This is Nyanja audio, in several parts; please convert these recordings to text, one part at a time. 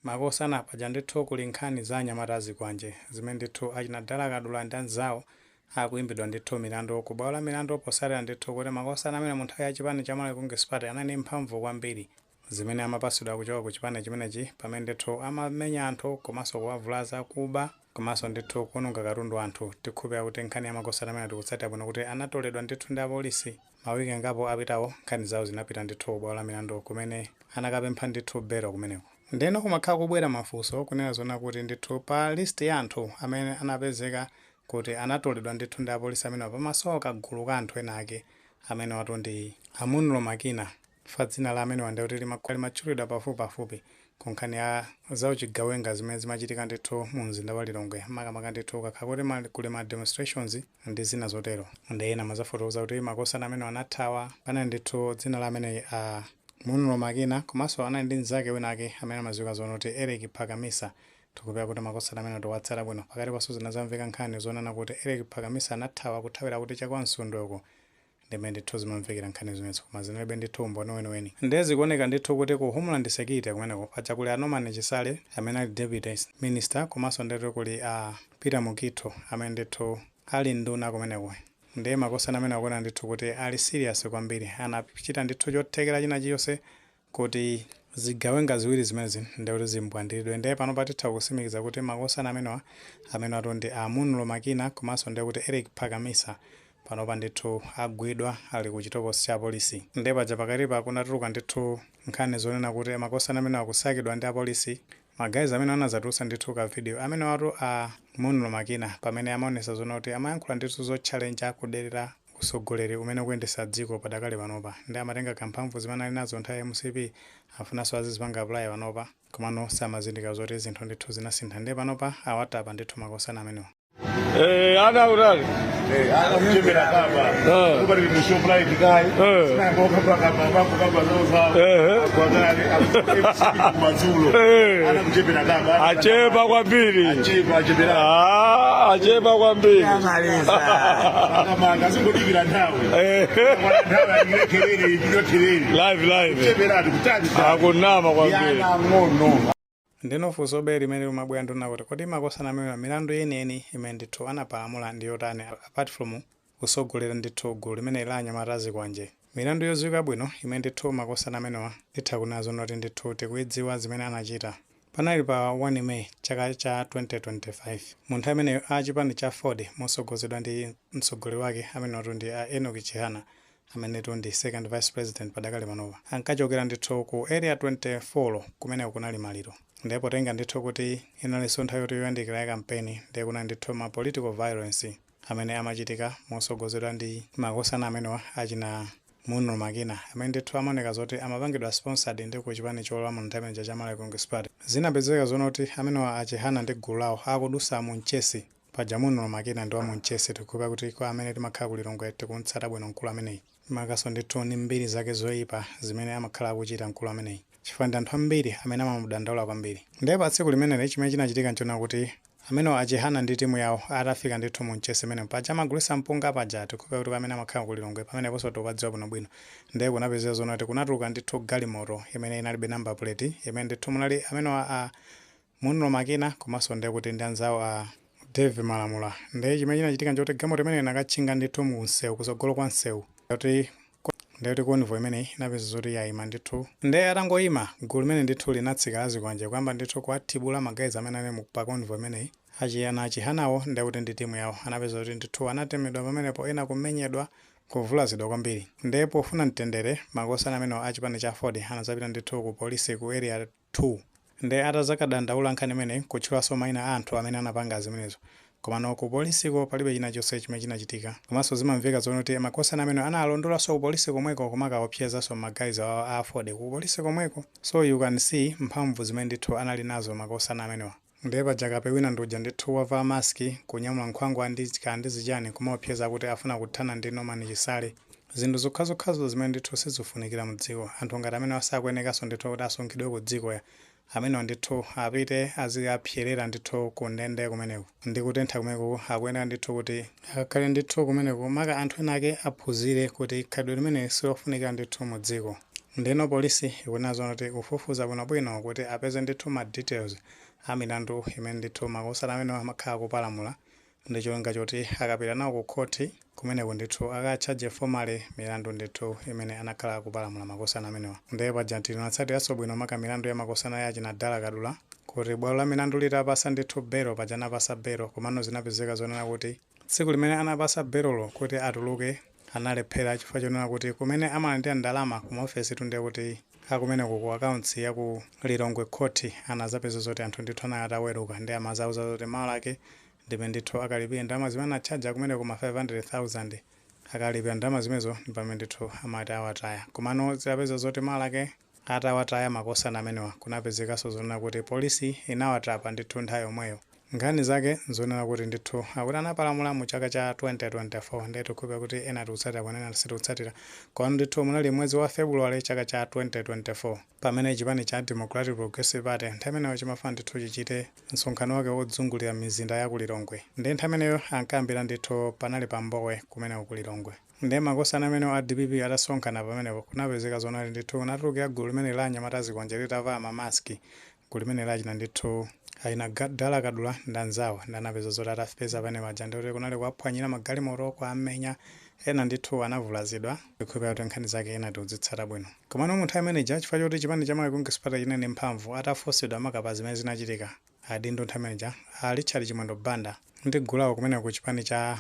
Makosana paja ndithu kuli nkhani za anyamata azikwanje zimene ndithu achina Dala Kadula ndi anzawo akuimbidwa ndithu milandu ku bwalo la milandu potsatira ndithu kuti makosana amene mu nthawi ya chipani cha Malawi Congress Party anali ndi mphamvu kwambiri zimene amapatsidwa kuchoka ku chipani chimenechi pamene ndithu amamenya anthu komanso kuwavulaza, kuba. Komanso ndithu kuononga katundu wa anthu tikhulupilira kuti nkhani ya makosana amenewa tikutsatira bwino kuti anatoledwa ndithu ndi apolisi ma week angapo apitawo nkhani zawo zinapita ndithu ku bwalo la milandu kumene anakapempha ndithu belo kumeneko. Ndeno kumakhala kubwera mafunso kunena zoona kuti ndithu pa list ya anthu amene anapezeka kuti anatoledwa ndithu ndi apolisi amenewa pamasowa kagulu ka anthu ena ake amenewatu ndi a Munlo Makina chifukwa dzina la amenewa ndekuti limakhala limatchulidwa pafupipafupi Ku nkhani ya za uchigawenga zimene zimachitika ndithu mu mzinda wa Lilongwe makamaka ndithu kukakhala kuti ma, kuli ma demonstrations ndi zina zotero nde ena amadzafotokoza kuti makosana amenewa anathawa panali ndithu dzina la amenewa a Munlo Makina komanso anali ndi mnzake wina ake amene amadziwika zoona kuti Eric Phakamisa tikhulupirira kuti makosana amenewa tikuwatsata bwino pakatipanso zinadzamveka nkhani zonena kuti Eric Phakamisa anathawa kuthawira kuti cha kwa Msundwe uko Ndi mmene ndithu zimamvekera nkhani zimenezo koma zinalibe ndithu umboni weniweni nde zikuoneka ndithu kuti ku homeland security kumeneko paja kuli a Norman Chisale amene ali deputy minister komanso ndetu kuli a Peter Mukhitho amene ndithu ali nduna kumeneko nde makosana amene akuoneka ndithu kuti ali serious kwambiri anachita ndithu chothekera china chilichonse kuti zigawenga ziwiri zimenezi ndiye kuti zimbwandilidwe ndiye panopa titha kutsimikiza kuti makosana amenewa amenewatu ndi a Munlo Makina komanso ndiye kuti Eric Phakamisa panopa ndithu agwidwa ali ku chitokosi cha apolisi ndiye paja pakatipa kunatuluka ndithu nkhani zonena kuti makosana amenewa akusakidwa ndi apolisi ma guys amene anadzatulutsa ndithu ka video amenewatu a Munlo Makina pamene amaonetsa zoona kuti amayankhula ndithu zotchalenja kudelera utsogoleri umene ukuyendetsa dziko padakali panopa nde amatenga ka mphamvu zimene anali nazo nthawi ya mcp akufunanso azizipanga apply panopa komano samazindikira zoti zinthu ndithu zinasintha nde panopa awatapa ndithu makosana amenewa. Eh, ana ural. Eh, ana mjemera kaba. Eh. Kuba ni show fly kikai. Eh. Sina boka kwa kaba babu kaba loza. Eh. Kwa gari abu mazulu. Eh. Ana mjemera kaba. Achepa kwambiri. Achepa achepa. Ah, achepa kwambiri. akamanga azingodikira nthawi Eh, Kwana nthawi alikire kelele ichito kelele live live cheberatu kutati akunama kwambiri ana ang'ono ndeno funsobe limene limabwera ndi lonena kuti kodi makosana amenewa milandu yeniyeni imene ndithu anapalamula ndi yotani apart from kutsogolera ndithu gulu limeneli la anyamata azikwanje milandu yodziwika bwino imene ndithu makosana amenewa nditha kunena zoona kuti ndithu tikuidziwa zimene anachita Panali pa 1 May chaka cha 2025 mu nthawi imeneyo a chipani cha Aford mosogozedwa ndi mtsogoleri wake amenewatu ndi a Enock Chihana amenetu ndi second vice president padakale panopa ankachokera ndithu ku area 24 kumeneko kunali maliro ndiye potenga ndithu kuti inalinso nthawi yoti yoyandikira ya kampeni ndiye kunali ndithu ma political violence amene amachitika mosogozedwa ndi makosana amenewa achina Munro Makina, amene ndithu amaoneka zoti amapangidwa sponsored ndi ku chipani cholamula nthawi imeneja cha Malawi Congress Party, zinapezeka zonena kuti amenewa a Chihana ndi gulu lawo akudusa mu Mchesi, paja Munro Makina ndi wa mu Mchesi, tikukhulupira kuti kwa amene timakhala ku Lilongwe tikumtsata bwino mkulu ameneyi, makanso ndithu ndi mbiri zake zoipa zimene amakhala akuchita mkulu ameneyi chifukwa ndi anthu ambiri amene amamudandaula kwambiri. Nde pa tsiku limeneli chimene chinachitika nchonena kuti Amenewa a Chihana ndi timu yawo atafika ndithu mu Mchesi mmene paja amagulisa mpunga paja tikhulupira kuti kwa amene amakhala ku Lilongwe pameneponso tikupadziwa bwino bwino nde kunapezeka zonena kuti kunatuluka ndithu galimoto imene inalibe number plate imene ndithu munali amenewa a Munro Makina komanso nde kuti ndi anzawo a Dave Malamula nde chimene chinachitika nchoti galimoto imeneyo inakatchinga ndithu mu msewu kusogolo kwa msewu kuti Nde kuti convoy imeneyi inapeza zoti yaima ndithu. Nde atangoima, gulu limene ndithu linatsika la zikwanje kuyamba ndithu kuwathibula ma guys amene anali pa convoy imeneyi. A Chiyana Chihana wo nde kuti ndi team yawo anapeza zoti ndithu anatemedwa pamenepo ena kumenyedwa, kuvulazidwa kwambiri. Nde pofuna mtendere, makosana amenewa a chipani cha aford anazapita ndithu ku police ku area 2 nde atazakadandaula nkhani imeneyi kutchulanso maina a anthu amene anapanga zimenezo komano ku police ko palibe chinachonse chimene chinachitika komanso zimamveka zonena kuti makosana amenewa analondolanso ku police komweko kumakaopsezanso ma guys awowa a aford ku police komweko so you can see mphamvu zimene ndithu anali nazo makosana amenewa. Ndiye paja kape wina ndi uja ndithu wavala mask kunyamula nkhwangwa ndi kaya ndi zichani kumaopseza kuti afuna kuthana ndi Norman Chisale. Zinthu zokhazokhazo zimene ndithu sizifunikira mu dziko. Anthu ngati amenewa sakuyenekanso ndithu kuti asungidwe ku dziko ya. Amenewa ndithu apite azikapserera ndithu ku ndende kumeneko. Ndi kutentha kumeneku akuyeneka ndithu kuti akakhale ndithu kumeneko. Maka anthu ena ake aphunzire kuti khalidwe limeneli silofunikira ndithu mu dziko. Ndeno police ikunena zonena kuti ikufufuza bwino bwino kuti apeze ndithu ma details a milandu imene ndithu makosana amenewa anakhala akupalamula ndi cholinga choti akapita nawo ku khoti kumeneko ndithu aka charge formally milandu ndithu imene anakhala akupalamula makosana amenewa. Nde paja tinatsatiranso bwino maka milandu ya makosana ya achina Dala Kadula kuti bwalo la milandu litapasa ndithu belo paja anapasa belo komano zinapezeka zonena kuti tsiku limene anapasa belolo kuti atuluke analephera chifukwa chonena kuti kumene amalandira ndalama ku maofesitu ndiye kuti akumeneko ku accounts ya ku Lilongwe court anazapeza zoti anthu ndithu anali ataweruka ndiye amazauza zoti mawa lake ndime ndithu akalipire ndalama zimene anatchaja kumeneko ma 500,000 akalipira ndalama zimenezo ndipamene ndithu amati awataya komano zinapeza zoti mawa lake Atawataya makosana amenewa kunapezekanso zonena kuti polisi inawatapa ndithu nthawi yomweyo. Nkhani zake nzonena kuti ndithu akuti anapalamula mu chaka cha 2024 ndiye tikukhulupilira kuti ena tikutsatira koma ena sitikutsatira komano ndithu munali m'mwezi wa February chaka cha 2024 pamene chipani cha Democratic Progressive Party nthawi imeneyo chimafuna ndithu chichite msonkhano wake wodzungulira m'mizinda ya ku Lilongwe ndiye nthawi imeneyo ankayambira ndithu panali pa Mbowe kumeneko ku Lilongwe. Nde makosana amenewo a dpp atasonkana pamenepo kunapezeka zonena kuti ndithu kunatulukira gulu limeneli la anyamata azikwanje litavala ma mask gulu limeneli la achina ndithu achina Dala Kadula ndi anzawo nde anapeza zoti atawapeza pamene paja ndekuti kunali kuwaphwanyira magalimoto kuwamenya ena ndithu anavulazidwa ndikukhulupira kuti nkhani zake ena tikuzitsata bwino komano mu nthawi imene ija chifukwa choti chipani cha Malawi Congress Party chinali ndi mphamvu atafunsidwa makamaka pa zimene zinachitika Adindo nthawi imeneja, a Richard Chimwendo Banda ndi gulu lawo kumeneko ku chipani cha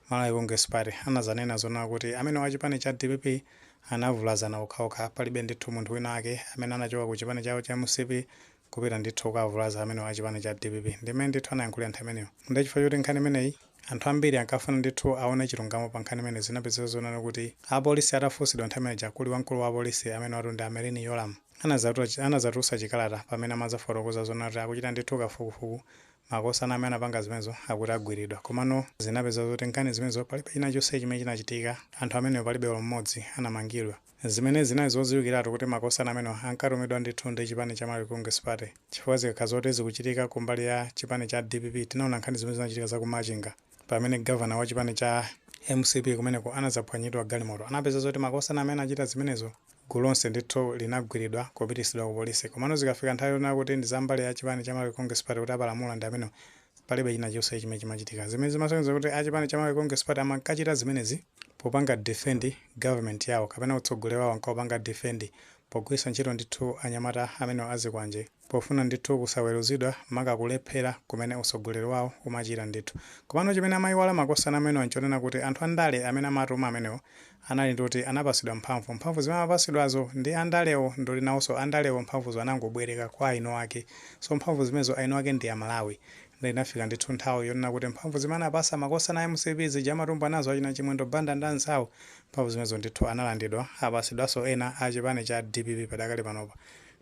Malawi Congress Party anadzanena zonena kuti amenewo a chipani cha dpp anavulazana okhaokha, palibe ndithu munthu wina wake amene anachoka ku chipani chawo cha mcp kupita ndithu kukavulaza amenewo a chipani cha dpp. Ndi mmene ndithu anayankhulira nthawi imeneyo. Ndiye chifukwa choti nkhani imeneyi anthu ambiri ankafuna ndithu aone chilungamo pa nkhani imeneyi, zinapezeka zonena kuti apolisi atafunsidwa nthawi imeneja kuli wamkulu wa apolisi amenewatu ndi mayi Merlyne Yolamu, anadzatulutsa chikalata pamene amadzafotokoza zonena kuti akuchita ndithu kafukufuku, makosana amene anapanga zimenezo akuti agwilidwa. Komano zinapeza zoti nkhani zimenezo palibe china chonse chimene chinachitika, anthu amenewo palibe olo m'modzi anamangidwa. Zimenezi zinali zodziwikilatu kuti makosana amenewa ankatumidwa ndithu ndi chipani cha Malawi Congress Party chifukwa zikakhala zoti zikuchitika ku mbali ya chipani cha dpp tinaona nkhani zimene zinachitika za ku Machinga pamene governor wa chipani cha mcp kumeneko anadzaphwanyidwa galimoto anapeza zoti makosana amene anachita zimenezo Gulu lonse ndithu linagwilidwa kupitisidwa ku polisi komano zikafika nthawi yonena kuti ndi za mbali ya chipani cha Malawi Congress Party kuti apalamula ndi amenewo palibe china chilichonse chimene chimachitika zimene zimasonyeza kuti a chipani cha Malawi Congress Party amankachita zimenezi popanga defend government yawo kapena utsogoleri wawo ankawupanga defend pogwilisa ntchito ndithu anyamata amenewo a zikwanje Pofuna ndithu kusaweruzidwa maka kulephera kumene utsogoleri wawo umachita ndithu. Komano chimene amayiwala makosana amenewa nchonena kuti anthu andale amene amawatuma amenewo anali ndi oti anapatsidwa mphamvu. Mphamvu zimene amapatsidwazo ndi andalewo ndi oti nawonso andalewo mphamvuzo anangobwereka kwa eniake. So mphamvu zimenezo eniake ndi amalawi. Nde inafika ndithu nthawi yonena kuti mphamvu zimene anawapatsa makosana a mcp zija amatumbwa nazo achina Chimwendo Banda ndi anzawo mphamvu zimenezo ndithu analandidwa apatsidwanso ena a chipani cha dpp padakali panopa.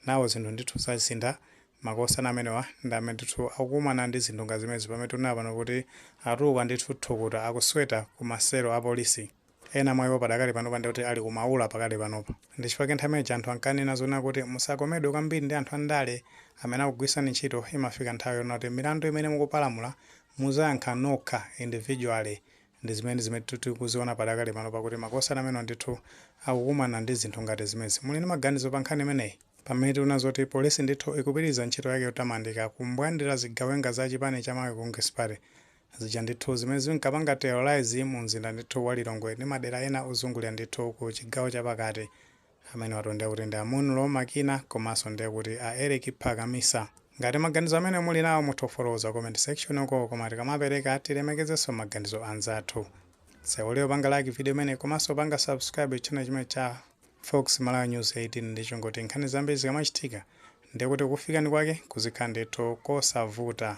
Nano zinthu ndithu zasintha, makosana amenewa ndi amene ndithu akukumana ndi zinthu ngati zimenezi pamene tikunena pano kuti atuluka ndithu thukuta, akusweta ku ma selo a polisi. Ena mwa iwo padakali panopa ndiye kuti ali ku maula pakali panopa. Ndi chifukwa chake nthawi imene ija anthu ankanena zonena kuti musakomedwe kwambiri ndi anthu a ndale amene akugwiritsani ntchito, imafika nthawi yonena kuti milandu imene mukupalamula muzayankha nokha individually Ndi zimenezi zimene ndithu tikuziona padakali pano pakuti makosana amenewa ndithu akukumana ndi zinthu ngati zimenezi. Muli ndi maganizo pa nkhani imeneyi? Pamene tikuona zoti polisi ndithu ikupitiriza ntchito yake yotamandika kumbwandira zigawenga za chipani cha Malawi Congress Party zija ndithu zimene zinkapanga terrorize mu mzinda ndithu wa Lilongwe ndi madera ena ozungulira ndithu ku chigawo cha pakati Amenewatu ndiye kuti ndi a Munlo Makina komanso ndiye kuti a Eric Phakamisa. Ngati maganizo amenewo muli nawo mutha kufotokoza ku comment section uko koma tikamapereka tilemekezenso maganizo a anzathu. Osaiwala kupanga like video imeneyi komanso kupanga subscribe channel chimenechi cha Fox Malawi News 18 ndi cholinga choti nkhani zambiri zikamachitika ndiye kuti kukufikani kwake kuzikhala ndithu kosavuta.